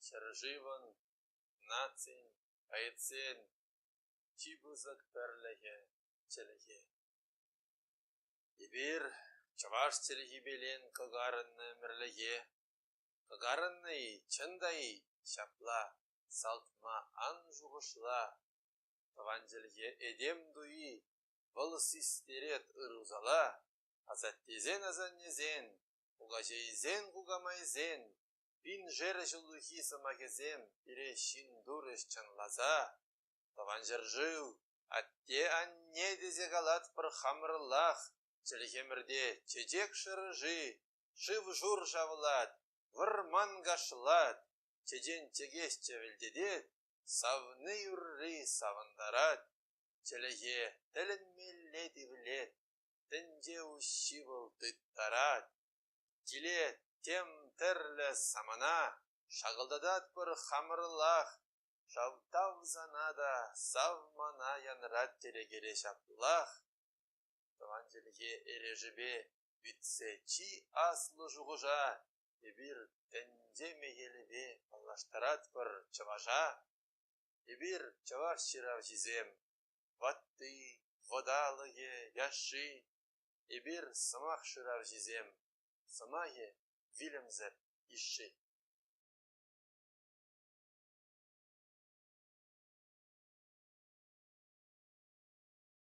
Ҫӗршывӑн, нацин, поэтсен чи пысӑк пӗрлӗхӗ — чӗлхе. Эпир чӑваш чӗлхипелен кӑкарӑннӑ ӗмӗрлӗхе, кӑкарӑннӑ-и, чӑн та-и, ҫапла, салтма ан шухӑшла. Тӑван чӗлхе этем туйи Вӑл систерет ырусала, асаттесен асаннесен, кукаҫейсен кукамайсен, пин шерӗ ҫуллахи сӑмахӗсем пире ҫын турӗҫ чӑнласа. Тӑван ҫӗршыв, атте-анне тесе калатпӑр хамӑрлах. Чӗлхемӗрте чечек шӑрши, шыв-шур шавлать, вӑрман кашлать, чечен чӗкесчӗ вӗлтетет, савни юрри савӑнтарать. Чӗлӗхе тӗлӗнмелле тивлет, тӗнче уҫҫи вӑл тыттарать. Килет тем тӗрлӗ самана, шакӑлтататпӑр хамӑрлах. Шав тав сана та, сав мана янрать тӗрекере ҫаплах. Тӑван чӗлхе эрешӗпе витсе чи аслӑ шухӑша эпир тӗнче мехелӗпе паллаштаратпӑр чӑваша. Эпир, чӑваш ҫыравҫисем, ватти, вӑталӑхӗ, яшши. Эпир, сӑмах шыравҫисем, сӑмахӗ вилӗмсӗр ишет.